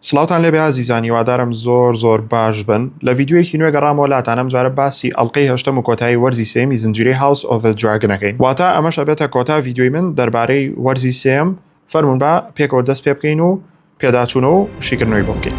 سڵاوتان لێبێ ئازیزان هیوادارم زۆر زۆر باش بن لە ڤیدیۆیەکی نوێ گەڕامەوە لاتان ئەم جارە باسی ئەڵقەی هەشتەم و کۆتایی وەرزی سێیەمی زنجیرەی هاوس ئۆف ذە دراگن ئەکەین واتا ئەمەش ئەبێتە کۆتا ڤیدیۆی من دەربارەی وەرزی سێیەم فەرموون با پێکەوە دەست پێ بکەین و پێداچوونە و شیکردنەوەی بۆ بکەین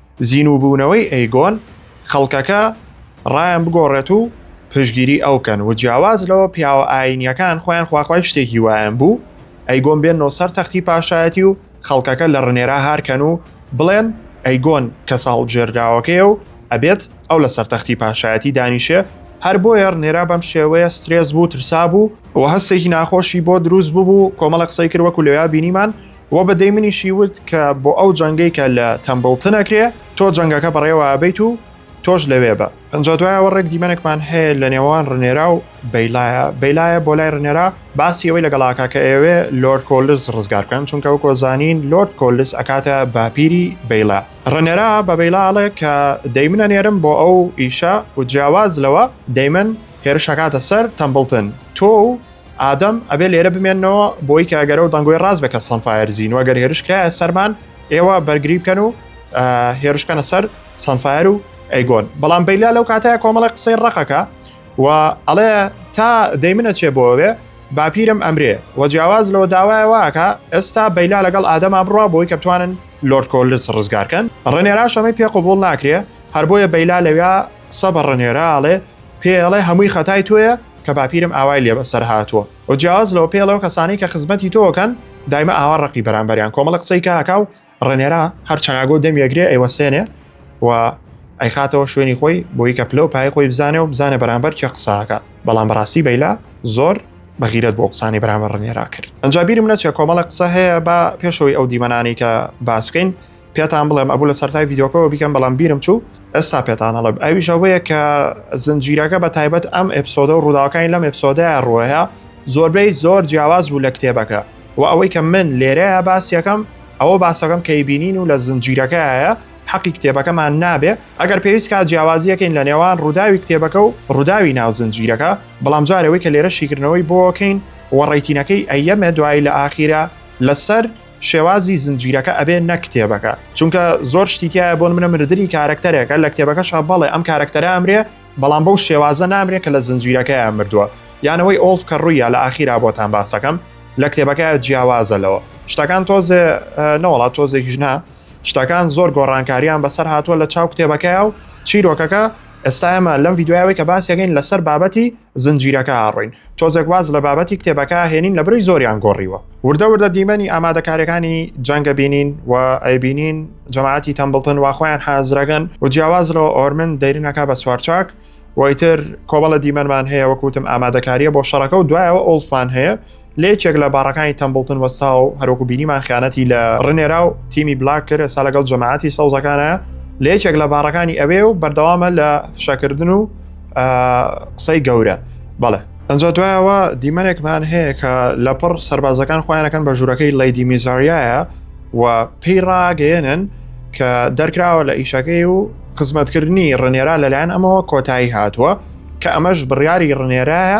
زینووبوونەوەی ئەیگۆن خەڵکەکە ڕایان بگۆڕێت و پشگیری ئەو کەن و جیاواز لەوە پیاوە ئایینیەکان خۆیان خواخوای شتێکی وایان بوو ئەیگۆن بێننەوە سەر تەختی پاشایەتی و خەڵکەکە لە ڕنێرا هارکەن و بڵێن ئەیگۆن کەسە هەڵبژێردراوەکەیە و ئەبێت ئەو لە سەرتەختی پاشایەتی دانیشێ هەر بۆیە ڕنێرا بەم شێوەیە سترێس بوو ترسا بوو و هەستێکی ناخۆشی بۆ دروست ببوو کۆمەڵە قسەی کرد وەکو لەوێا بینیمان وە بە دەیمنیشی وت کە بۆ ئەو جەنگەی کە لە تەمبڵتن ئەکرێ تۆ جەنگەکە بەڕێوە ئەبەیت و تۆش لەوێ بە. ئنجا دوای ئەوە ڕێک دیمەنێکمان هەیە لە نێوان ڕنێرا و بەیلایە بەیلایە بۆ لای ڕنێرا باسی ئەوەی لەگەڵ ئاکا کە ئەیەوێ لۆرد کۆلس ڕزگار بکەن چونکە وەکو ئەزانین لۆرد کۆلس ئەکاتە باپیری بەیلا ڕنێرا بە بەیلا ئەڵێ کە دەیمن ئەنێرم بۆ ئەو ئیشە و جیاواز لەوە دەیمن هێرش ئەکاتە سەر تەمبڵتن تۆ و ئادەم ئەبێ لێرە بمێنەوە بۆی کە ئەگەرە و دەنگۆی ڕاز بکە سەنفایر زین وەگەر هێرش کرایە سەرمان ئێوە بەرگری بکەن و هێرشکەنە سەر سەنفایر و ئەیگۆن بەڵام بەیلا لەو کاتەیە کۆمەڵە قسەی ڕقەکە و ئەڵێ تا دەیمنە چێ بۆوێ باپیرم ئەمرێ و جیاواز لەوە داوایەوەکە ئێستا بەیلا لەگەڵ ئادەما بڕوا بۆی کە بتوانن لۆرد کۆلرس ڕزگارکەن ڕێنێرا شەمەی پێ قوبول ناکرێ هەر بۆیە بەیلا لەویا قسە بە ڕنێرە ئەڵێ پێ ئەڵێ هەمووی خەتای تۆیە کە باپیرم ئاوای لێ بەسەر هاتووە و جیاواز لەوە پێڵە و کەسانی کە خزمەتی تۆکەن دایمە ئاوا ڕقی بەرامبەریان کۆمەڵە قسەی کاکا و ڕێنێرا هەر چەناگۆ دەمیەگرێ ئەیوەسێنێ و ئەیخاتەوە شوێنی خۆی بۆی کە پلە و پای خۆی بزانێ و بزانە بەرامبەر کێ قساکە بەڵام بەڕاستی بەیلا زۆر بەغیرەت بۆ قسانی بەرامبەر ڕێنێرا کرد ئەنجابیرم نەچێ کۆمەڵە قسە هەیە بە پێشەوەی ئەو دیمەنانی کە باسکەین پێتان بڵێم ئەبوو لە سەرای یددیوکەەوە بیکەم بەڵام بیرم چوو ئەستا پێتان هەڵب ئەوی ژەوەیە کە زنجیرەکە بە تایبەت ئەم ئەپسۆدە و ڕووداوەکانی لەم ئەپسۆدە ڕوەیە زۆربەی زۆر جیاواز بوو لە کتێبەکە و ئەوەی کە من لێرەیە باسیەکەم ئەوە باسەکەم کەی بینین و لە زنجیرەکەیە حەقی کتێبەکەمان نابێ ئەگەر پێویست کا جیاوازیەکەین لە نێوان ڕووداوی کتێبەکە و ڕووداوی ناو زنجیرەکە بەڵام جارەوەی کە لێرە شیکردنەوەی بۆکەین وەڕیتینەکەی ئەیەمە دوایی لە ئاخیرە لەسەر شێوازی زنجیرەکە ئەبێ نەک کتێبەکە چونکە زۆر شتی تایە بۆن منە مردنی کارەکتەرێکە لە کتێبەکەشا بەڵێ ئەم کارەکتەرە ئەمرێ بەڵام بەو شێوازە نامرێ کە لە زنجیرەکەیان مردووە یانەوەی ئۆڵف کە ڕوویە لە ئاخیرا بۆتان باسەکەم لە کتێبەکە جیاوازە لەوە شتەکان تۆزێ نەوەڵات تۆزێک ژنا شتەکان زۆر گۆڕانکاریان بەسەر هاتووە لە چاو کتێبەکەی و چیرۆکەکە ئێستا ئەمە لەم یددیوایەوەی کە باسیەکەین لەسەر بابەتی زنجیرەکە ئاڕین. تۆزێک واز لە بابەتی کتێبەکە هێنین لە برۆی زۆریان گۆڕیوە. وردە وردە دیمەنی ئامادەکاریەکانی جەنگە بینین و ئەیبینین جەماعەتی تەمبڵتن وا خۆیان حازرەگەن و جیاواز لە ئۆرمن دەیرنەکە بە سوارچاک وەیتر کۆمەڵە دیمەنمان هەیە وەکوتم ئامادەکاریە بۆ شەڕەکە و دوایەوە ئۆڵفمان هەیە لە یەکێک لە باڕەکانی تەمبڵتن وەستا و هەروەکو بینیمان خیانەتی لە ڕنێرا و تیمی بلاک کرد ئێستا لەگەڵ جەماعەتی سەوزەکانە لە یەکێک لە باڕەکانی ئەوێ و بەردەوامە لە فشەکردن و قسەی گەورە بەڵێ ئەجا دوایەوە دیمەنێکمان هەیە کە لە پڕ سربازەکان خۆیانەکەن بە ژوورەکەی لەیدی میزاریایە و پێی ڕاگەێنن کە دەرکراوە لە ئیشەکەی و خزمەتکردنی ڕنێرا لەلایەن ئەمەوە کۆتایی هاتووە کە ئەمەش بڕیاری ڕنێرایە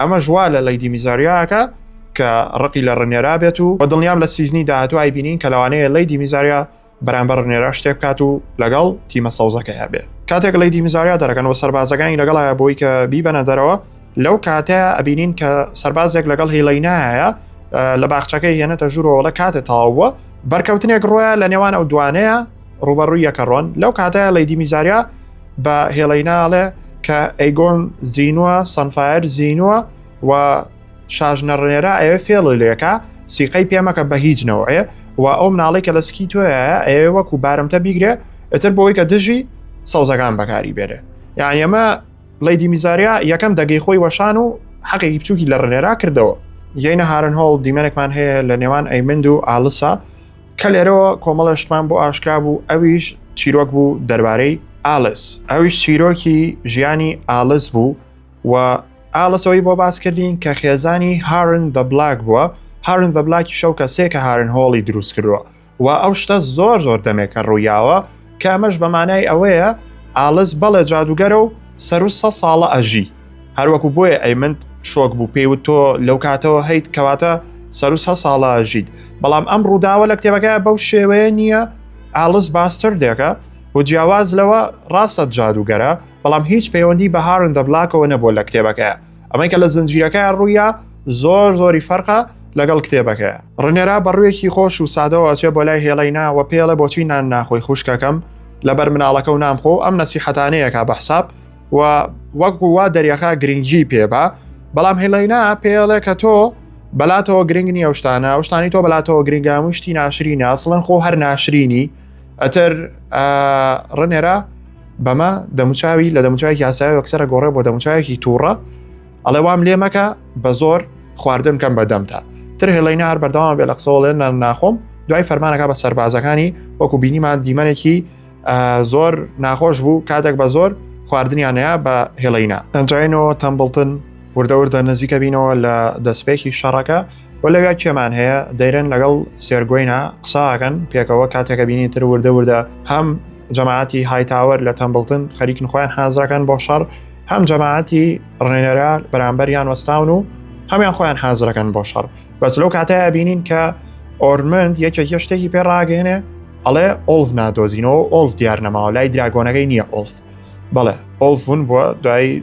ئەمەش وا لە لەیدی میزاریا ئەکا کە ڕقی لە ڕنێرا بێت و بە دڵنیام لە سیزنی داهاتوو ئایبینین کە لەوانەیە لەیدی میزاریا بەرامبەر ڕنێرا شتێ بکات و لەگەڵ تیمە سەوزەکەیا بێ کاتێک لەیدی میزاریا دەرەکەن و سەربازەکانی لەگەڵایە بۆی کە بیبەنە دەرەوە لەو کاتەیە ئەبینین کە سەربازێک لەگەڵ هیڵینایە لە باخچەکەی هێنێتە ژوورەوەڵە کاتێ تەواو بووە بەرکەوتنێک ڕۆیە لە نێوان ئەو دوانەیە ڕوبەڕووی یەکەڕۆن لەو کاتەیە لەیدی میزاریا بە هێڵی ناڵێ کە ئەیگۆن زینوە سنفایر زینوە و شاژنە ڕێرا ئەوێ فێڵ لێکە سیقەی پێمەکە بە هیچ نەوەێ و ئەو مناڵی کە لە سکی تۆیە ئەوێ وەکو بارمتە بیگرێ ئەتر بۆی کە دژی سەوزەکان بەکاری بێرێ یان ئەمە لەیدی میزاریا یەکەم دەگەی خۆی وەشان و حەقێکی بچووکی لە ڕێرا کردەوە یەینە هارن هۆڵ دیمەنێکمان هەیە لە نێوان ئەیمند و ئالسا کە لێرەوە کۆمەڵە شتمان بۆ ئاشکرا بوو ئەویش چیرۆک بوو دەربارەی ئالس ئەویش چیرۆکی ژیانی ئالس بوو و ئالسەوەی بۆ باس کردین کە خێزانی هارن دە بلاک بووە هارن دە بلاکی شەو کە سێکە هارن هۆڵی دروست کردووە و ئەو شتە زۆر زۆر دەمێکە ڕوویاوە کە ئەمەش بە مانای ئەوەیە ئالس بەڵێ جادوگەرە و سەر و سە ساڵە ئەژی هەروەکو بۆیە ئەیمنت شۆک بوو پێی و تۆ لەو کاتەوە هەیت کەواتە سەر و سە ساڵە ئەژیت بەڵام ئەم ڕووداوە لە کتێبەکە بەو شێوەیە نییە ئالس باستر دێکە و جیاواز لەوە ڕاستە جادوگەرە بەڵام هیچ پەیوەندی بە هارن دەبلاکەوە نەبووە لە کتێبەکەیە ئەمەی کە لە زنجیرەکەیان ڕوویە زۆر زۆری فەرقە لەگەڵ کتێبەکەیە ڕنێرا بەڕوویەکی خۆش و سادەوە ئەچێ بۆ لای هێڵەی ناوە پێڵە بۆچی نان ناخۆی خوشکەکەم لەبەر مناڵەکە و نامخۆ ئەم نەسیحەتانەیەکە بە حساب و وەک وا دەریەخا گرنگی پێبا بەڵام هێڵەینا پێڵێ کە تۆ بەلاتەوە گرنگ نیە شتانە شتانی تۆ بەلاتەوە گرنگاموی شتی ناشرینە سڵەن خۆ هەر ناشرینی ئەتر ڕنێرا بەمە دەموچاوی لە دەموچاوێکی ئاسای وەکسەرە گۆڕێ بۆ دەموچاوێکی تووڕە ئەڵێ وام لێ مەکە بە زۆر خواردن کەم بەدەمتا تر هێڵینە هەر بەردەوام بێ لە قسەوەڵێن ناخۆم دوای فەرمانەکە بە سەربازەکانی وەکو بینیمان دیمەنێکی زۆر ناخۆش بوو کاتێک بە زۆر خواردنیانەیە بە هێڵینا ئەنجینەوە تەمبڵتن وردەوردە نزیکە بینەوە لە دەستپێکی شەڕەکە وە لەویا کێمان هەیە دەیرن لەگەڵ سێرگۆینا قساکەن پێکەوە کاتێکە بینی تر وردە وردە هەم جەماعەتی هایتاوەر لە تەمبڵتن خەریکن خۆیان حازراکەن بۆ شەڕ هەم جەماعەتی ڕێنەرا بەرامبەریان وەستاون و هەمیان خۆیان حازرەکەن بۆ شەڕ بەس لەو کاتەیە بینین کە ئۆرمنت یەکێک یە شتێکی پێ ڕاگەێنێ ئەڵێ ئۆلف نادۆزینەوە ئۆلف دیار نەماوە لای دراگۆنەکەی نییە ئۆلف بەڵێ ئۆلفون بووە دوای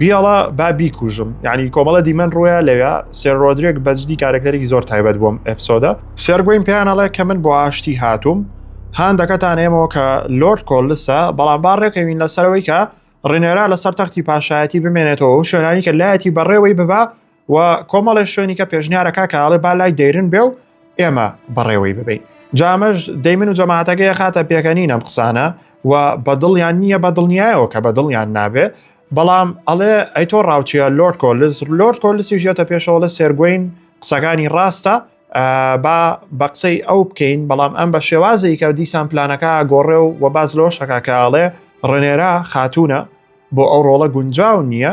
بیاڵا با بیکوژم یعنی کۆمەڵە دیمەن ڕووە لەوێ سێر ڕۆدرێک بەجدی کارەکتەرێکی زۆر تایبەت بووم ئەفسۆدە سێرگوین پیانەڵێ کە من بۆ ئاشتی هاتووم هاندەکەتان ئێمەوە کە لۆرد کۆلسە بەڵام با ڕێکەوین لەسەرەوەی کە ڕێنێرا لەسەر تەختی پاشایەتی بمێنێتەوە و شوێنانی کە لایەتی بەڕێوەی ببا و کۆمەڵێ شوێنیکە پێشنیارەکە کە ئەڵێ با لای دەیرن بێ و ئێمە بەڕێوەی ببین جامەش دەیمن و جەماعاتەکەی خاتە پێکەنین ئەم قسانە و بەدڵیان نییە بە دڵنیایەوە کە بە دڵیان نابێ بەڵام ئەڵێ ئەی تۆ ڕاوچیە لۆرد کۆلس لۆرد کۆلسی ژێتە پێشەوەڵە سێرگوین قسەکانی ڕاستە با بە قسەی ئەو بکەین بەڵام ئەم بە شێوازی کە دیسان پلانەکە گۆڕێ و وە باز لەوەشەکە کە ئاڵێ ڕنێرا خاتونە بۆ ئەو ڕۆڵە گونجاو نییە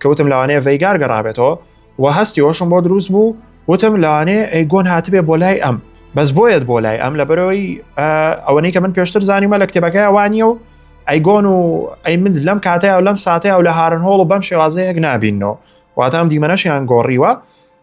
کەوتم لەوانەیە ڤەیگار گەڕابێتەوە و هەستی ئەوشم بۆ دروست بوو وتم لەوانەیە ئەیگۆن هاتبێ بۆ لای ئەم بەس بۆیەت بۆ لای ئەم لەبەرەوەی ئەوەنەی کە من پێشتر زانیمە لە کتێبەکەی ئەوانیە و ئەیگۆن و ئەی من لەم کاتەیە و لەم ساتەیە و لە هارن هۆڵ و بەم شێوازەیەک نابینەوە واتام دیمەنەشیان گۆڕیوە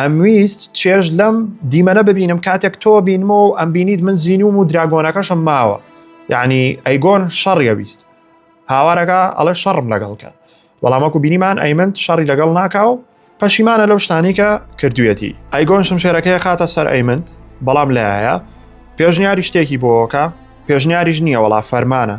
ئەمویست چێژ لەم دیمەنە ببینم کاتێک تۆ بینمەوە و ئەم بینیت من زینوم و دراگۆنەکەشم ماوە یعنی ئەیگۆن شەڕیە ویست هاوارەکە ئەڵێ شەڕم لەگەڵکە بەڵامەکو بینیمان ئەیمنت شەڕی لەگەڵ ناکا و پەشیمانە لەو شتانی کە کردوێتی ئەیگۆن شمشێرەکەی خاتە سەر ئەیمنت بەڵام لایە پێشنیاری شتێکی بۆکە پێشنیاریش نییە وەڵا فەرمانە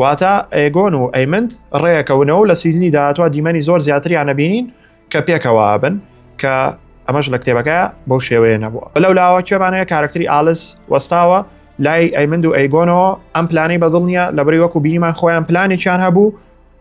واتە ئەیگۆن و ئەیمنت ڕێەکەونەوە لە سیزنی داهاتوە دیمەنی زۆر زیاتریان نەبینین کە پێکەوە بن کە ئەمەش لە کتێبەکە بۆ شێوەیە نەبووە بەلەو لاوە کوێمانەیە کارکتری ئالس وەستاوە لای ئەیمند و ئەیگۆنەوە ئەم پلانەی بەدڵ نییە لە بری وەکو بینیمان خۆیان پلانێکیان هەبوو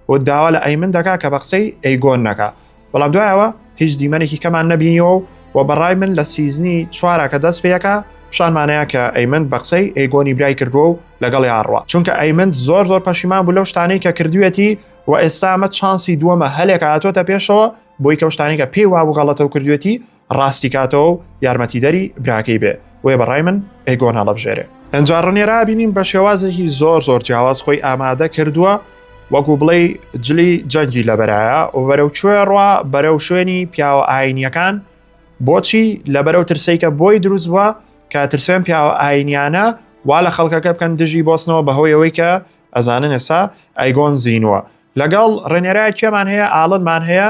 و داوا لە ئەیمن دەکا کە بە قسەی ئەیگۆن نەکە بەڵام دوایەوە هیچ دیمەنێکی کەمان نەبینیەوە و و بەڕای من لە سیزنی چوارە کە دەست پێەکە پیشانمانەیە کە ئەیمن بە قسەی ئەیگۆنی برای کردووە و لەگەڵ یاڕوە چونکە ئەیمن زۆر زۆر پەشیمان بوو لەو شتانەی کە کردوێتی و ئێستامە چانسی دووەمە هەلێکە هاتۆتە پێشەوە بۆی کەشتانێکە پێی وابوو غەڵەتە و کردوێتی ڕاستی کاتەوەو یارمەتی دەری براکەی بێ وێ بەڕای من ئێگۆن هەڵەبژێرێ. ئەنجا ڕنێرا بینیم بە شێوازێکی زۆر زۆر جیاواز خۆی ئامادە کردووە وەکو بڵێی جلی جەنگی لەبەرایە و بەرەو کوێ ڕوا بەرەو شوێنی پیاوە ئاینیەکان بۆچی لە بەرەو ترسەیکە بۆی دروست بووە کە ترسێن پیاوە ئاینیانە وا لە خەڵکەکە بکەن دژی بۆستنەوە بەهۆی ئەوەی کە ئەزانن ئێسا ئەیگۆن زینوە لەگەڵ ڕێنێرای کێمان هەیە ئاڵنمان هەیە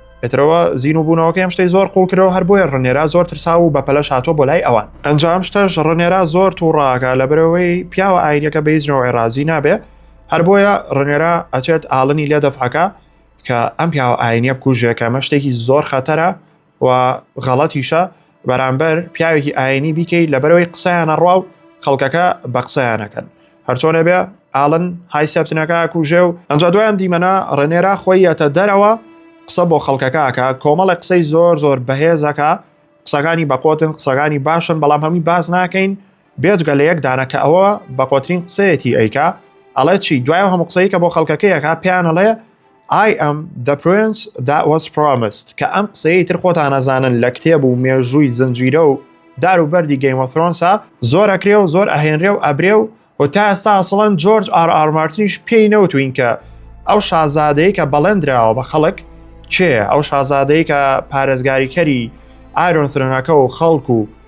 پێترەوە زین و بوونەوەکەی ئەم شتەی زۆر قوڵ کرەوە هەر بۆیە ڕنێرا زۆر ترسا و بە پەلە شاتۆ بۆ لای ئەوان ئەنجام شتەش ڕنێرا زۆر تووڕاکە لە برەوەی پیاوە ئاینەکە بە هیچ نەوەی ڕازی نابێ هەر بۆیە ڕنێرا ئەچێت ئاڵنی لێ دەفعەکە کە ئەم پیاوە ئاینە بکوژێکە مە شتێکی زۆر خەتەرە و غەڵەتیشە بەرامبەر پیاوێکی ئاینی بیکەی لەبەرەوەی قسەیانە ڕوا و خەڵکەکە بە قسەیانەکەن هەرچۆنێ بێ ئاڵن های سەبتنەکە کوژێ و ئەنج دوایان دیمەنا ڕێنێرا خۆی یەتە دەرەوە قسە بۆ خەڵکەکەکە کۆمەڵە قسەی زۆر زۆر بەهێزەکە قسەکانی بەقۆتن قسەکانی باشن بەڵام هەمووی باز ناکەین بێجگە لە یەک دانە کە ئەوە بە قۆترین قسەیەتی ئەیکا ئەڵێ چی دوایە هەموو قسەی کە بۆ خەڵکەکەیەکە پێیان ئەڵێ I am the prince that was promised کە ئەم قسەیە تر خۆتان نەزانن لە کتێب و مێژووی زنجیرە و دار و بەردی گەیمەفرۆنسا زۆر ئەکرێ و زۆر ئەهێنرێ و ئەبرێ و و تا ئێستا ئەسڵەن جۆرج ئار ئارمارتنیش پێی نەوتوین کە ئەو شازادەیە کە بەڵێندراوە بە خەڵک چێ ئەو شازادەیە کە پارێزگاریکەری ئارۆن فرەنەکە و خەڵک و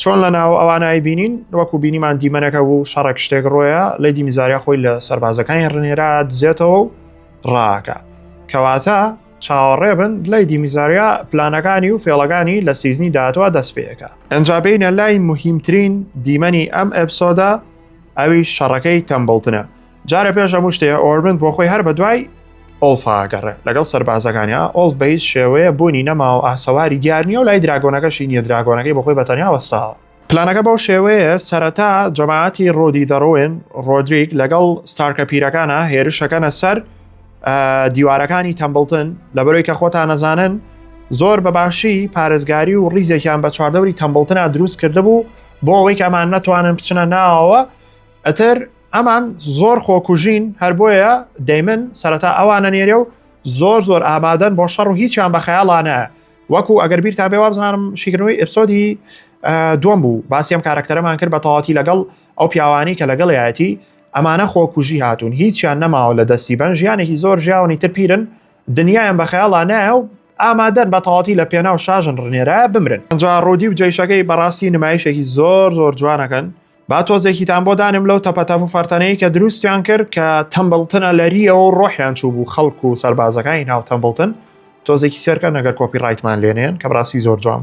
چۆن لە ناو ئەوانایی بینین وەکو بینیمان دیمەنەکە بوو شەڕێک شتێک ڕۆیە لە دیمیزاریا خۆی لە سەربازەکانی ڕنێرا دزێتەوە و ڕاکە کەواتە چاوەڕێ بن لای دیمیزاریا پلانەکانی و فێڵەکانی لە سیزنی داهاتوە دەست پێەکە ئەجا بینە لای مهمترین دیمەنی ئەم ئەپسۆدا ئەوی شەڕەکەی تەمبڵتنە جارە پێش هەموو شتێ ئۆرمن بۆ خۆی هەر بە دوای ئۆڵفاگەڕێ لەگەڵ سەربازەکانیا ئۆڵ بە هیچ شێوەیە بوونی نەما و ئاسەواری دیار نیە و لای دراگۆنەکەشی نیە دراگۆنەکەی بەخۆی بەتەنیا وەساوە پلانەکە بەو شێوەیە سەرەتا جەماعەتی ڕۆدی دەڕۆێن ڕۆدریک لەگەڵ ستارکە پیرەکانە هێرشەکەنە سەر دیوارەکانی تەمبڵتن لە بەرۆی کە خۆتان نەزانن زۆر بە باشی پارێزگاری و ڕیزێکیان بە چواردەوری تەمبڵتنا دروست کرده بوو بۆ ئەوەی کەمان نەتوانن بچنە ناوەوە ئەتر ئەمان زۆر خۆکوژین هەر بۆیە دەیمن سەرەتا ئەوانە نێرێ و زۆر زۆر ئامادەن بۆ شەڕ و هیچیان بە خەیاڵانە وەکو ئەگەر بیرتان بێ وابزانم شیکردنەوەی ئپسۆدی دوم بوو باسی ئەم کارەکتەرەمان کرد بە تەواتی لەگەڵ ئەو پیاوانی کە لەگەڵیایەتی ئەمانە خۆکوژی هاتوون هیچیان نەماوە لە دەستی بەن ژیانێکی زۆر ژیاونی تر پیرن دنیایان بە خەیاڵا نایە و ئامادەن بە تەواتی لە پێناو شاژن ڕنێرە بمرن ئەجا ڕوودی و جێشەکەی بەڕاستی نمایشێکی زۆر زۆر جوانەکەن با تۆزێکیتان بۆ دانم لەو تەپەتەپ و فەرتەنەی کە دروستیان کرد کە تەمبڵتنە لەریەوە و ڕۆحیان چوو بوو خەڵک و سەربازەکانی ناو تەمبڵتن تۆزێکی سەرکە نەگەر کۆپی ڕایتمان لێنێن کە بڕاستی زۆر جوان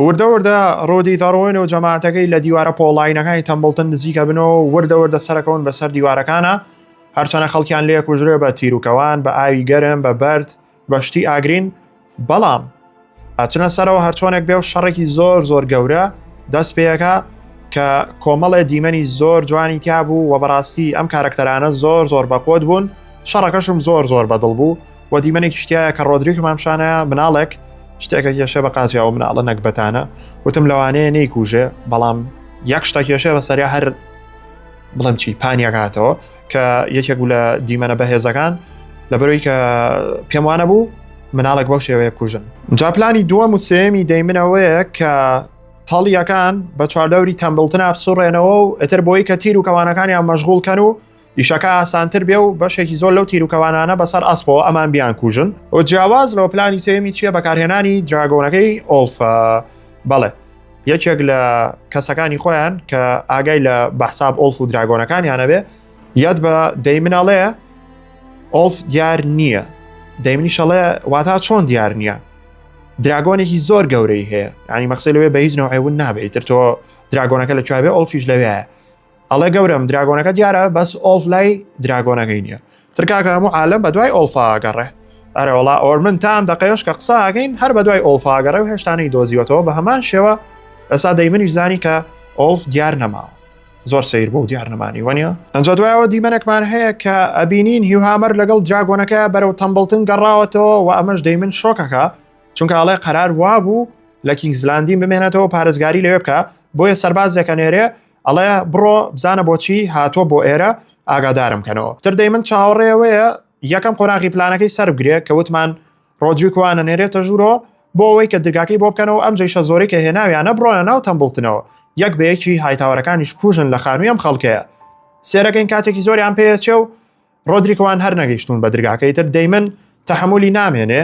وردە وردە ڕۆدی دەڕۆین و جەماعەتەکەی لە دیوارە پۆڵاینەکانی تەمبڵتن نزیکە بنەوە وردە وردە سەرەکەون بەسەر دیوارەکانە هەرچەنە خەڵکیان لێ کوژرێ بە تیروکەوان بە ئاوی گەرم بە بەرد بە شتی ئاگرین بەڵام ئەچنە سەرەوە هەرچۆنێک بێ و شەڕێکی زۆر زۆر گەورە دەست پێەکە کە کۆمەڵێ دیمەنی زۆر جوانی تیا بوو و بەڕاستی ئەم کارەکتەرانە زۆر زۆر بەقۆت بوون شەڕەکەشم زۆر زۆر بەدڵ بوو و دیمەنێکی شتایە کە ڕۆدریک مامشانە مناڵێک شتێکە کێشە بە قازیا و مناڵە نەکبەتانە وتم لەوانەیە نەیکوژێ بەڵام یەک شتە کێشێ بە سەریا هەر بڵێم چی پانیەک هاتەوە کە یەکێک بوو لە دیمەنە بەهێزەکان لەبەرەوەی کە پێم وانە بوو مناڵێک بەو شێوەیە کوژن جاپلانی دووە موسێمی دەیمنەوەیە کە تاڵیەکان بە چواردەوری تەمبلتنا بسوڕێنەوە و ئەتر بۆی کە تیر و کەوانەکانیان مەژغولکەن و ئیشەکە ئاسانتر بێ و بەشێکی زۆر لەو تیرروکەوانانە بەسەر ئەسپەوە ئەمان بیان کوژن و جیاواز لەوە پلانی سێمی چییە بەکارهێنانی دراگۆنەکەی ئۆلفە بەڵێ یەکێک لە کەسەکانی خۆیان کە ئاگای لە بەحساب ئۆلف و دراگۆنەکانیانەبێ یاد بە دەی مناڵەیە ئۆلف دیار نییە دەیمنی شەڵێ واتا چۆن دیار نییە دراگۆنێکی زۆر گەورەی هەیە ینی مەخسی لەوێ بە هیچ نەوەیون نابێت تر تۆ دراگۆنەکە لە کوێ ئۆلفیش لەوێ ئەڵێ گەورم دراگۆنەکە دیارە بەس ئۆڵف لای دراگۆنەکەی نییە ترکاکە هەموو عالم بە دوای ئۆڵفاگەڕێ ئەرەوەڵا ئۆرمن تام دەقێش کە قساگەین هەر بە دوای ئۆڵفاگەڕێ و هێشتانەی دۆزیوەتەوە بە هەمان شێوە ئەسا دەیمنیش زانی کە ئۆڵف دیار نەماوە زۆر سیر بۆ دیار نەمانی وەنیە ئەنج دوایەوە دیمەنێکمان هەیە کە ئەبینین هیوهامەر لەگەڵ دراگۆنەکە بەرەو تەمبڵتن گەڕاوەتەوە و ئەمەش دەیمن شۆکەکە چونکە ئەڵێ قەرار وابوو لە کینگزلاندی بمێنێتەوە پارێزگاری لەوێ بکە بۆیە سەربازێکە نێرێ ئەڵێ بڕۆ بزانە بۆچی هاتووە بۆ ئێرە ئاگادارم کەنەوە تردەی من چاوەڕێەوەیە یەکەم قۆناغی پلانەکەی سەربگرێ کە وتمان ڕۆجوی کوانە نێرێتە ژوورۆ بۆ ئەوەی کە درگاکەی بۆ بکەنەوە ئەم جیشە زۆری کە هێناویانە بڕۆنە ناو تەمبڵتنەوە یەک بەیەکی هایتاوەرەکانیش کوژن لە خانووی ئەم خەڵکەیە سێرەکەین کاتێکی زۆریان پێچێ و ڕۆدریکوان هەر نەگەیشتون بە درگاکەی تر دەیمن تەحملی نامێنێ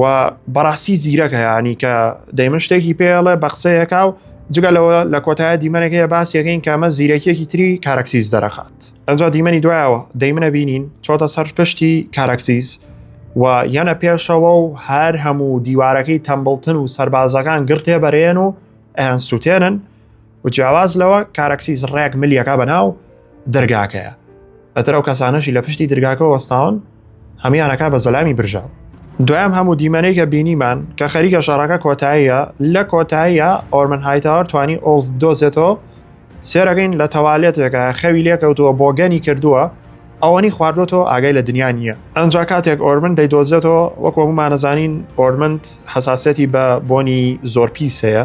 و بەڕاستی زیرەکە ینی کە دەیمن شتێکی پێڵێ بە قسەیەکە و جگە لەوە لە کۆتایە دیمەنێکەیە باسیەکەین کە ئەمە زیرەکیەکی تری کارکسیز دەرەخات ئەجا دیمەنی دوایەوە دەیمنە بینین چۆتە سەر پشتی کارکسیز و یەنە پێشەوە و هەر هەموو دیوارەکەی تەمبڵتن و سربازەکان گرتێ بەرێن و ئەیان سووتێنن و جیاواز لەوە کارەکسی زڕێک ملیەکە بەناو دەرگاکەیە ئەتر ئەو کەسانەشی لە پشتی درگاکە وەستاون هەمیانەکە بە زەلامی برژاو دوایام هەموو دیمەنەی کە بینیمان کە خەریکە شەڕەکە کۆتاییە لە کۆتاییە ئۆرمن هایتاوەر توانی ئۆڵف دۆزێتەوە سێرەگەین لە تەوالێتێکە خەوی لێکەوتووە بۆگەنی کردووە ئەوەنی خواردۆتەوە ئاگای لە دنیا نییە ئەنج کاتێک ئۆرمن دەیدۆزێتەوە وەک وەمانەزانین ئۆرمنت حساسەتی بە بۆنی زۆر پیسەیە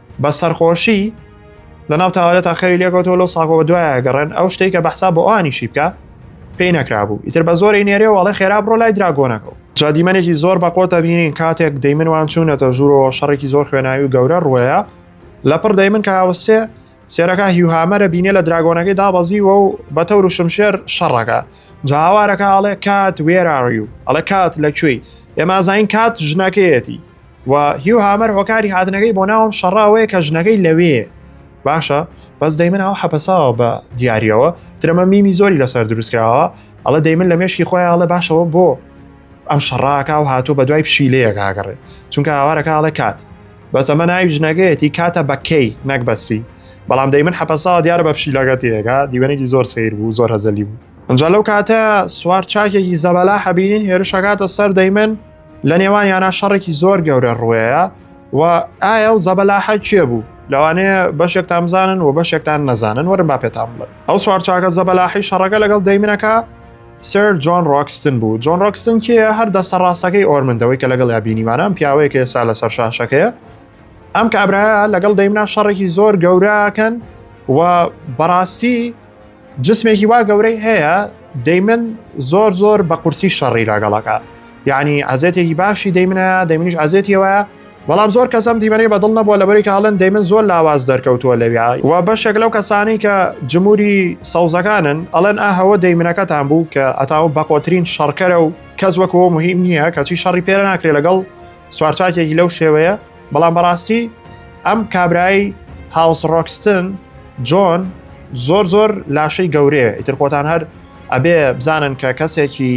بە سەرخۆشی لە ناو تاوەرە تا خەوی لێکەوتەوە لەو ساکۆ بە دوایە گەڕێن ئەو شتەی کە بەحسا بۆ ئەوانیشی بکە پێی نەکرابوو ئیتر بە زۆری نێرێ وڵێ خێرا بڕۆ لای دراگۆنەکەەوە جا دیمەنێکی زۆر بە قۆتە بینین کاتێک دەیمن وان چوونەتە ژوورەوە شەڕێکی زۆر خوێناوی و گەورە ڕوەیە لە پڕ دەیمن کە هاوستێ سێرەکە هیوهامەرە بینێ لە دراگۆنەکەی دابەزیوە و بە تەور و شمشێر شەڕەکە جاوارەکە ئاڵێ کات وێراڕی و ئەڵە کات لە کوێی ئێمازین کات ژنەکەیەتی و هیو هامەر هۆکاری هاتنەکەی بۆ ناوم شەڕە ئەوەیە کە ژنەکەی لەوێ باشە بەس دەیمن ئەو حەپەساوە بە دیارەوە درەمە میمی زۆری لەسەر دروستکراوە ئەڵە دەیمن لە مێشکی خۆی ئاڵە باشەوە بۆ ئەم شەڕاکە و هاتوو بە دوای پشیلەیە کاگەڕێ چونکە ئاوارەکە ئاڵێ کات بەس ئەمە ناوی ژنەگەیەتی کاتە بەکەی نەک بەسی بەڵام دەیمن حەپەسا دیارە بە پشیلەکە تێگا دیوەنێکی زۆر سیر بوو زۆر هەزەلی بوو ئەنج لەو کاتە سوار چاکێکی زەبەلا حەبیین هێرشەکاتە سەر دەیمن لە نێوانیانە شەڕێکی زۆر گەورە ڕوەیە و ئایا و زەبەلاحە کێ بوو لەوانەیە بەشێکتان بزانن و بەشێکتان نەزانن وەرم با پێتان بڵێ ئەو سوارچاکە زەبەلاحی شەڕەکە لەگەڵ دەیمنەکە سەر جۆن ڕۆکستن بوو جۆن ڕۆکستن کێ هەر دەستە ڕاستەکەی ئۆرمندەوەی کە لەگەڵ یابینیمانان پیاوەیەکە ئێستا لەسەر شاشەکەیە ئەم کابراە لەگەڵ دەیمنا شەڕێکی زۆر گەوراکەن و بەڕاستی جسمێکی وا گەورەی هەیە دەیمن زۆر زۆر بە قورسی شەڕی لاگەڵەکە یعنی عزێتێکی باشی دەیمنە دەمنیش عزێتیەوە بەڵام زۆر کەسم دیمەنی بەدڵ نەبووە لەبەری کاڵن دەیمن زۆر لاواز دەرکەوتووە لەویا و بەشێک لەو کەسانی کە جمهوری سەوزەکانن ئەڵێن ئاهەوە دەیمنەکەتان بوو کە ئەتاو بەقۆترین شەڕکەرە و کەس وەکەوە مهم نییە کەچی شەڕی پێرە ناکرێت لەگەڵ سوارچاکێکی لەو شێوەیە بەڵام بەڕاستی ئەم کابرای هاوس ڕۆکستن جۆن زۆر زۆر لاشەی گەورەیە ئیتر خۆتان هەر ئەبێ بزانن کە کەسێکی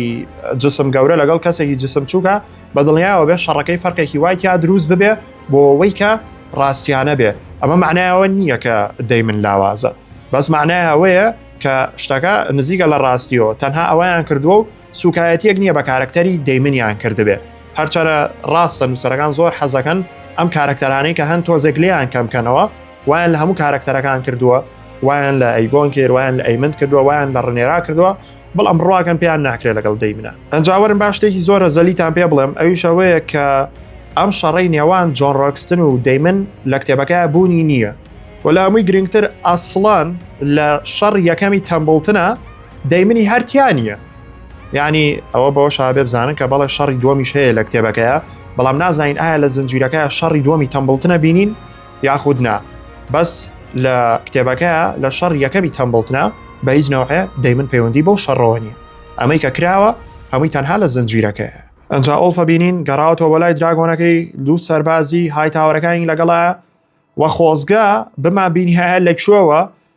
جسم گەورە لەگەڵ کەسێکی جسم چووکە بە دڵنیایەوە بێ شەڕەکەی فەرقێکی وای تیا دروست ببێ بۆ ئەوەی کە ڕاستیانە بێ ئەمە معنایەوە نییە کە دەی من لاوازە بەس معنای ئەوەیە کە شتەکە نزیکە لە ڕاستیەوە تەنها ئەویان کردووە و سوکایەتیەک نیە بە کارەکتەری دەیمنیان کردبێ هەرچەرە ڕاستە نووسەرەکان زۆر حەزەکەن ئەم کارەکتەرانەی کە هەن تۆزێک لێیان کەمکەنەوە وایان لە هەموو کارەکتەرەکان کردووە وایان لە ئەیگۆن کرد وایان لە ئەیمند کردووە وایان لە ڕنێرا کردووە بەڵام ڕواکەن پێیان ناکرێت لەگەڵ دەیمنە ئەنجاوەرم باش شتێکی زۆرە زەلیتان پێ بڵێم ئەویشەوەیە کە ئەم شەڕی نێوان جۆن ڕۆکستن و دەیمن لە کتێبەکە بوونی نییە وەلامووی گرنگتر ئاسڵان لە شەڕ یەکەمی تەمبڵتنە دەی منی هەر تیا نییە یعنی ئەوە بەوە شابێ بزانن کە بەڵێ شەڕی دومیش هەیە لە کتێبەکەیە بەڵام نازانین ئایا لە زنجیرەکە شەڕی دومی تەمبڵتنە بینین یاخود نا بەس لە کتێبەکە لە شەڕ یەکەمی تەمبڵتنە بە هیچ نەوەیە دەیمن پەیوەندی بەو شەڕەوە نیە ئەمەی کە کراوە هەمووی تەنها لە زنجیرەکەیە ئەجا ئۆڵفە بینین گەڕاوەوە بەلای دراگۆنەکەی دوو سەربازی های تاوەرەکانی لەگەڵە وە خۆزگە بما بینیهەیە لە کوێوە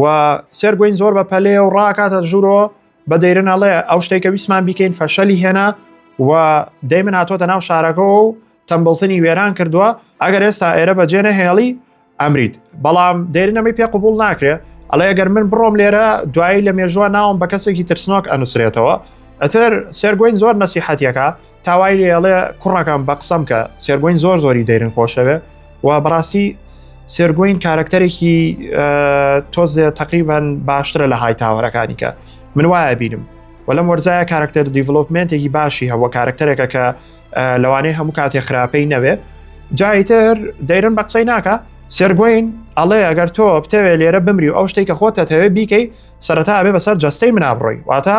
و سێر گوین زۆر بە پەلێ و ڕاکاتە ژورۆ بە دەیرن ئەڵێ ئەو شتێکە ویسمان بیکەین فەشەلی هێنا و دەی من هاتۆتە ناو شارەکە و تەمبڵتنی وێران کردووە ئەگەر ئێستا ئێرە بە جێنە هێڵی ئەمریت بەڵام دەێرنەمەی پێ قوبول ناکرێ ئەڵێ گەر من بڕۆم لێرە دوایی لە مێژووە ناوم بە کەسێکی ترسنۆک ئەنووسرێتەوە ئەتر سێرگوین زۆر نەسیحەتەکە تاوای لێ ئەڵێ کوڕەکەم بە قسەم کە سێرگۆین زۆر زۆری دەیرن خۆشەوێ و بەڕاستی سێرگۆین کارەکتەرێکی تۆزێ تقریبان باشترە لە های تاوەرەکانی کە من وایە بینم و لەم وەرزایە کارکتەر دیڤلوپمنتێکی باشی هەوە کارکتەرێکە کە لەوانەیە هەموو کاتێ خراپەی نەوێ جایتر دەیرن بە قسەی ناکە سێرگۆین ئەڵێ ئەگەر تۆ بتەوێ لێرە بمری و ئەو شتێک کە خۆتە تەوێ بیکەی سەرەتا بێ بەسەر جەستەی منابڕۆی واتە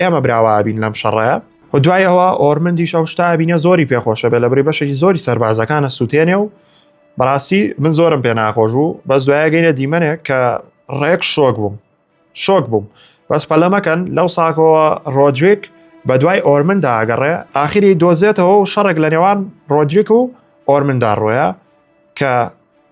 ئێمە براوابین لەم شەڕەیە و دوایەوە ئۆرمندیش ئەو شتا بینە زۆری پێخۆشە بێ لە بری بەشێکی زۆری سەربازەکانە سووتێنێ و بەڕاستی من زۆرم پێ ناخۆش و بەس دوایە گەینە دیمەنێک کە ڕێک شۆک بووم شۆک بووم بەس پەلەمەکەن لەو ساکەوە ڕۆدریک بە دوای ئۆرمندا ئەگەڕێ ئاخری دۆزێتەوە و شەڕێک لە نێوان ڕۆدریک و ئۆرمندا ڕۆیە کە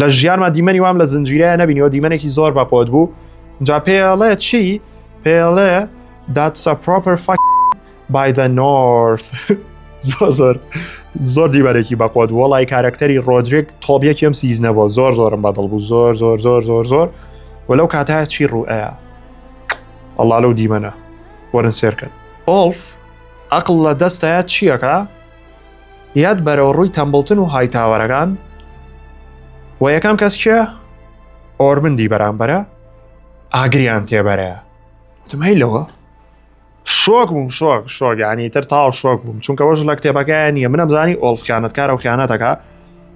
لە ژیانما دیمەنی وام لە زنجیرەیە نەبینیەوە دیمەنێکی زۆر بەپۆت بوو جا پێڵێ چی پێڵێ داتسە پرۆپەر فاک بایدە نۆرث زۆر زۆر زۆر دیبەرێکی بەپۆت وڵی کارەکتەری ڕۆدرێک تۆبیەکیەم سیزنەوە زۆر زۆرم بەدڵ بوو زۆر زۆر زۆر زۆر زۆر و لەو کاتە چی ڕوئەیە ئەڵا لەو دیمەنە وەرن سێرکن ئۆڵف ئەقل لە دەستەیە چییەکە یاد بەرەوە ڕووی تەمبڵتن و هایتاوەرەکان و یەکەم کەس کێ ئۆرمندی بەرامبەرە ئاگریان تێبەرەیە تمای لەوە شۆک بووم شۆک شۆگانی تر تاو شۆک بووم چونکە وەش لە کتێبەکەیان نیە منم زانی ئۆڵف خیانەتکارە و خیانەتەکە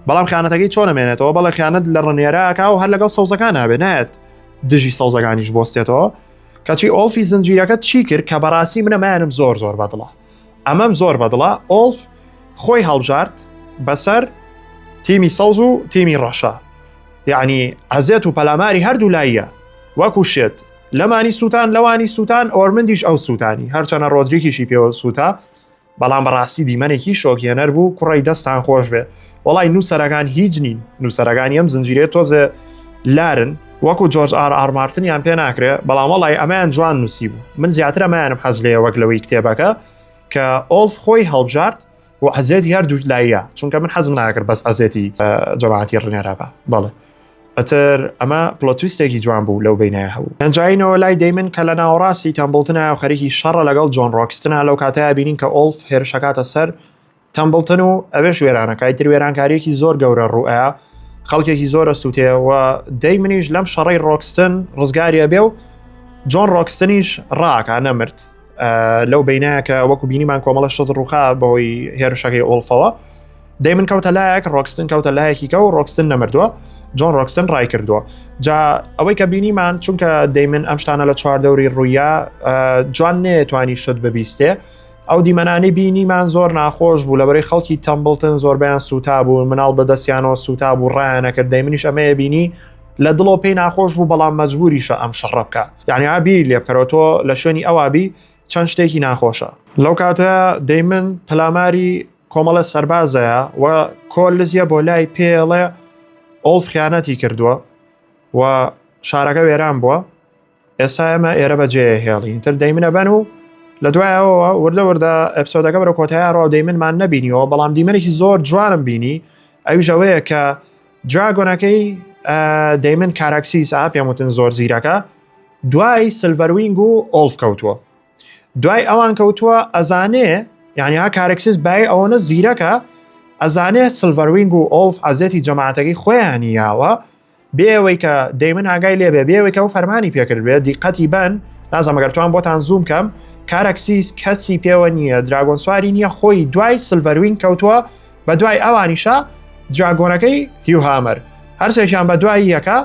بەڵام خیانەتەکەی چۆن نمێنێتەوە بەڵێ خیانەت لە ڕنێراکە و هەر لەگەڵ سەوزەکان نابێ نایەت دژی سەوزەکانیش بۆستێتەوە کەچی ئۆڵفی زنجیرەکە چی کرد کە بەڕاستی منەمایانم زۆر زۆر بەدڵە ئەمەم زۆر بەدڵە ئۆڵف خۆی هەڵبژارد بەسەر تیمی سەوز و تیمی ڕەشە یعنی عزێت و پەلاماری هەردوو لاییە وەکو شێت لەمانی سووتان لەوانی سووتان ئۆرمندیش ئەو سووتانی هەرچەنە ڕۆدریکیشی پێوە سووتا بەڵام بەڕاستی دیمەنێکی شۆکیێنەر بوو کوڕی دەستان خۆش بێ وەڵای نووسەرەکان هیچ نین نووسەرەکانی ئەم زنجیرەیە تۆزێ لارن وەکو جۆرج ئار ئارمارتنیان پێ ناکرێ بەڵام وەڵی ئەمەیان جوان نووسی بوو من زیاتر ئەمایانم حەز لێ وەک لەوەی کتێبەکە کە ئۆلف خۆی هەڵبژارد و عزێت هەر دوو لایە چونکە من حەزم ناکرد بەس عزێتی جەماعاتی ڕنێرابا بەڵێ ئەتر ئەمە پلۆتویستێکی جوان بوو لەو بینایە هەبوو ئەنجینەوە لای دەیمن کە لە ناوەڕاستی تەمبڵتنە خەریکی شەڕە لەگەڵ جۆن ڕۆکستنا لەو کاتەیە بینین کە ئۆلف هێرشەکاتە سەر تەمبڵتن و ئەوێش وێرانەکە ئیتر وێرانکاریەکی زۆر گەورە ڕوئە خەڵکێکی زۆرە سووتەیەوە دەی منیش لەم شەڕی ڕۆکستن ڕزگاریە بێ و جۆن ڕۆکستنیش ڕاکە نەمرد لەو بینایەکە وەکو بینیمان کۆمەڵە شت ڕوخا بەوەی هێرشەکەی ئۆڵفەوە دەی من کەوتە لایەک ڕۆکستن کەوتە لایەکی کە و ڕۆکستن نەمردووە جۆن ڕۆکستن ڕای کردووە جا ئەوەی کە بینیمان چونکە دەیمن ئەم شتانە لە چواردەوری ڕوویە جوان نێتوانی شت ببیستێ ئەو دیمەنانەی بینیمان زۆر ناخۆش بوو لەبەرەی خەڵکی تەمبڵتن زۆربیان سوتا بوون مناڵ بەدەستیانەوە سوتا بوو ڕایانەکرد دەی منیش ئەمەیە بینی لە دڵەوە پێی ناخۆش بوو بەڵام مەجبوریشە ئەم شەڕە بکە یعنی ئابیری لێ بکەرەوە تۆ لە شوێنی ئەوابی چەند شتێکی ناخۆشە لەو کاتە دەیمن پەلاماری کۆمەڵە سەربازەیە و کۆلزیە بۆ لای پێڵێ ئۆڵف خیانەتی کردووە و شارەکە وێران بووە ئێستا ئێمە ئێرە بە جێ هێڵین تر دەیمنە بەن و لە دوایەوە وردە وردە ئەپسۆدەکە بەرە کۆتایە ڕاو دەیمنمان نەبینیەوە بەڵام دیمەێکی زۆر جوانم بینی ئەوی ژەوەیە کە جاگۆنەکەی دەیمن کاراکسیس ئا پێم وتن زۆر زیرەکە دوای سلڤەروینگ و ئۆلف کەوتووە دوای ئەوان کەوتووە ئەزانێ یعنی ها کارکسیس بای ئەوەنە زیرەکە ئەزانێ سلڤەروینگ و ئۆلف عزیەتی جەماعەتەکەی خۆیان یاوە بێ ئەوەی کە دەیمن ئاگای لێبێ بێ ئەوەی کە ئەو فەرمانی پێکردبێ دیقەتی بن نازەمەگەر توان بۆتان زووم کەم کارەکسیس کەسی پێوە نییە دراگۆن سواری نییە خۆی دوای سلڤەروین کەوتووە بە دوای ئەوانیشە دراگۆنەکەی هیوهامەر هەرسێکیان بە دوای یەکە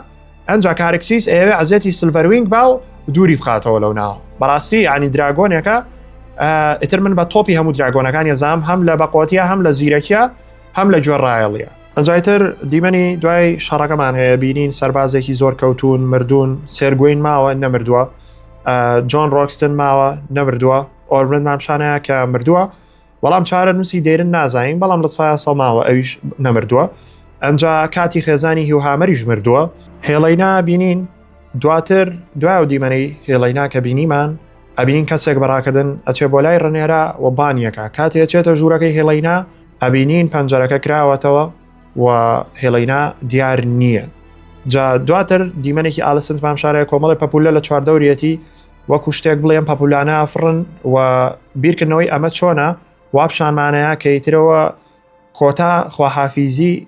ئەنج کارکسیس ئێوێ عزیەتی سلڤەروینگ با و دووری بخاتەوە لەو ناوە بەڕاستی ینی دراگۆنێکە ئیتر من بە تۆپی هەموو دراگۆنەکانی زام هەم لە بەقۆتیە هەم لە زیرەکیە هەم لە گوێڕایەڵە دوایتر دیمەنی دوای شەڕەکەمان هەیە بینین سەربازێکی زۆر کەوتون مردوون سێرگوین ماوە نەمردووە جۆن ڕۆکستن ماوە نەمردووە ئۆرمن مامشانەیە کە مردووە بەڵام چارە نووسی دێرن نازانین بەڵام لە سایە سەڵماوە ئەویش نەمردووە ئەجا کاتی خێزانی هیوهامەریش مردووە هێڵینا بینین دواتر دوای و دیمەنەی هێڵینا کە بینیمان ئەبینین کەسێک بەڕاکردن ئەچێ بۆ لای ڕنێرا و بانیەکە کاتێ چێتە ژوورەکەی هێڵینا ئەبینین پەنجەرەکە کراوەتەوە و هێڵینا دیار نییە جا دواتر دیمەنێکی ئالسنت مام شارەیە کۆمەڵی پەپولە لە چواردەورەتی وەکو شتێک بڵێم پەپولانە فڕن و بیرکردنەوەی ئەمە چۆنە وابشانمانەیە کەیترەوە کۆتا خواحافیزی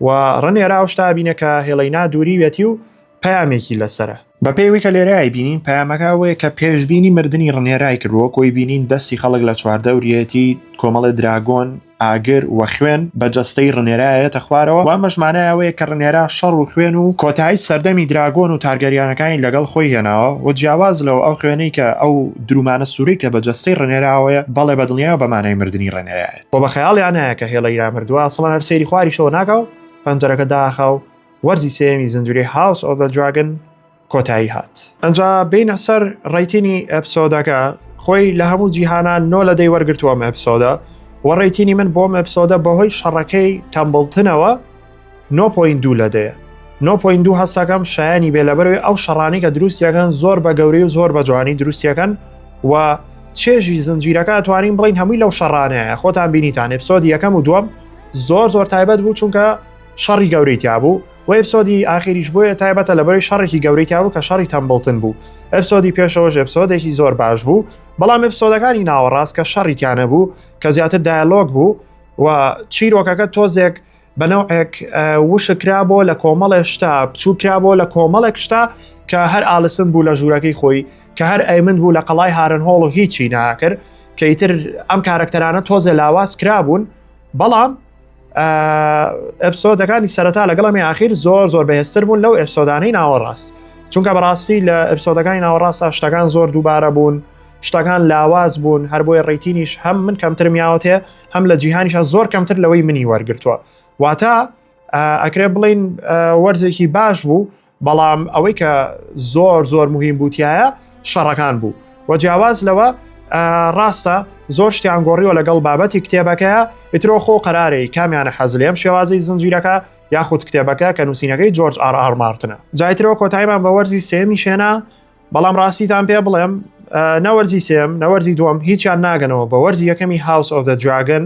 و ڕنێرا ئەو شتا بینە کە هێڵەینا دووریوێتی و پەیامێکی لەسەرە. بە پێی وی کە لێرەای بینین پەیامەکە ئەوەیە کە پێشبینی مردنی ڕنێرای کرد وەک وی بینین دەستی خەڵک لە چواردەوریەتی کۆمەڵێ دراگۆن، ئاگر، و خوێن بە جەستەی ڕنێرا یەتە خوارەوە و ئەمەش مانای ئەوەیە کە ڕنێرا شەڕ و خوێن و کۆتایی سەردەمی دراگۆن و تارگەریانەکانی لەگەڵ خۆی هێناوە و جیاواز لەوە ئەو خوێنەی کە ئەو درومانە سورەی کە بە جەستەی ڕنێراوەیە بەڵێ بە دڵنیایەوە بە مانای مردنی ڕنێرایەتی. بۆ بە خەیاڵیان نایە کە هێڵە ئیران مردووە سەڵان هەر سەیری خواریشەوە ناکە و پەنجەرەکە داخا و وەرزی سێمی زنجری هاوس ئۆڤە دراگن کۆتایی هات ئەجا بینە سەر ڕیتینی ئەپسۆدەکە خۆی لە هەموو جیهانان نۆ لە دەی وەرگتووە مەپسۆدە وەڕێتینی من بۆ مەپسۆدە بەهۆی شەڕەکەی تەمبڵتنەوە نۆ پۆینت دوو لە دەیە. نۆ پۆینت دوو هەستەکەم شایانی بێ لەبەروی ئەو شەڕانی کە دروستیەکەن زۆر بە گەورەی و زۆر بە جوانی دروستیەکەن و چێژی زنجیرەکە توانین بڵین هەمووی لەو شەڕانەیە خۆتان بینیتان ئپسۆدی یەکەم و دووەم زۆر زۆر تایبەت بوو چونکە شەڕی گەورەی تیابوو و ئپسۆدی ئاخیریش بۆیە تایبەتە لەبەری شەڕێکی گەورەی تیابوو کە شەڕی تەمبڵتن بوو ئپسۆدی پێشەوەش ئپسۆدێکی زۆر باش بوو بەڵام ئپسۆدەکانی ناوەڕاست کە شەڕیکانە بوو کە زیاتر دایلۆگ بوو و چیرۆکەکە تۆزێک بە نەوعێک وشک کرابۆ لە کۆمەڵێ شتا بچوو کرابۆ لە کۆمەڵێک شتا کە هەر ئالسن بوو لە ژوورەکەی خۆی کە هەر ئەیمن بوو لە قەڵای هارن هۆڵ و هیچی ناکرد کە ئیتر ئەم کارەکتەرانە تۆزێ لاواز کرابوون بەڵام ئەپسۆدەکانی سەرەتا لەگەڵمی ئاخیر زۆر زۆر بەهێستر بوون لەو ئەپسۆدانەی ناوەڕاست چونکە بەڕاستی لە ئەپسۆدەکانی ناوەڕاستە شتەکان زۆر دووبارە بوون شتەکان لاواز بوون هەر بۆیە ڕیتینیش هەم من کەمترمیاوەتێ هەم لە جیهانیشە زۆر کەمتر لەوەی منی وەرگتووە واتە ئەکرێ بڵین وەرزێکی باش بوو بەڵام ئەوەی کە زۆر زۆر مهم بووتایە شەڕەکان بوو وە جیاواز لەوە ڕاستە زۆر شتیان گۆڕیوە لەگەڵ بابەتی کتێبەکەیە ئیترۆ خۆ قەرارەی کامیانە حەزلێم شێوازی زنجیرەکە یاخود کتێبەکە کە نووسینەکەی جۆرج ئارمارتنە جایترەوە کۆتایمان بە وەرزی سێمی شێنا بەڵام ڕاستیتان پێ بڵێم نەوەرزی سێم نەوەرزی دوم هیچیان ناگەنەوە بە وەرزی یەکەمی هاوس ئۆف دە دراگن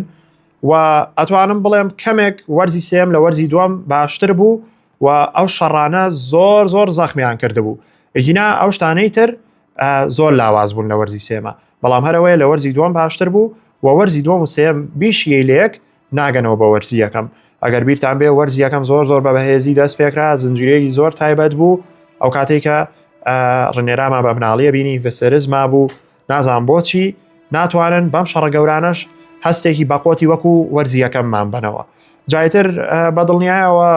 و ئەتوانم بڵێم کەمێک وەرزی سێم لە وەرزی دوم باشتر بوو و ئەو شەڕانە زۆر زۆر زەخمیان کردبوو ئەگینا ئەو شتانەی تر زۆر لاواز بوون لە وەرزی سێمە بەڵام هەرەوەی لە وەرزی دوم باشتر بوو و وەرزی دوم و سێم بیشیەی لەیەک ناگەنەوە بە وەرزی یەکەم ئەگەر بیرتان بێ وەرز یەکەم زۆر زۆر بە بەهێزی دەست پێکرا زنجیرەیەکی زۆر تایبەت بوو ئەو کاتێک کە ڕنێراما بە بناڵیە بینی ڤسرز ما بوو نازان بۆچی ناتوانن بەم شەڕە گەورانەش هەستێکی بەقۆتی وەکو وەرزی یەکەممان بنەوە جایتر بە دڵنیایەوە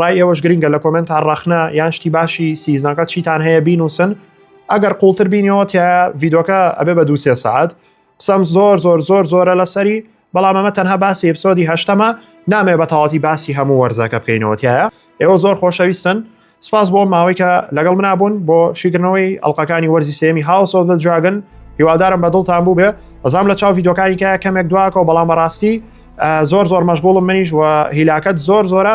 ڕای ئێوەش گرنگە لە کۆمنت تا ڕەخنە یان شتی باشی سیزنەکە چیتان هەیە بینوسن ئەگەر قوڵتر بینەوە تیا ڤیدۆکە ئەبێ بە دووسێ سعات قسەم زۆر زۆر زۆر زۆرە لەسەری بەڵام ئەمە تەنها باسی ئەپسۆدی هەشتەمە نامێ بە تەواتی باسی هەموو وەرزەکە بکەینەوەتیایە ئێوە زۆر خۆشەویستن سپاس بۆ ماوەی کە لەگەڵ منابوون بۆ شیگرنەوەی ئەڵلقەکانی وەرزی سێمی هاوسۆ دە جاگن هیوادارم بە دڵتان بوو بێ ئەزام لە چاو یدۆکانیکە کەمێک دواکەەوە بەڵام بەڕاستی زۆر زۆر مەشغوڵم منیش و هیلاکەت زۆر زۆرە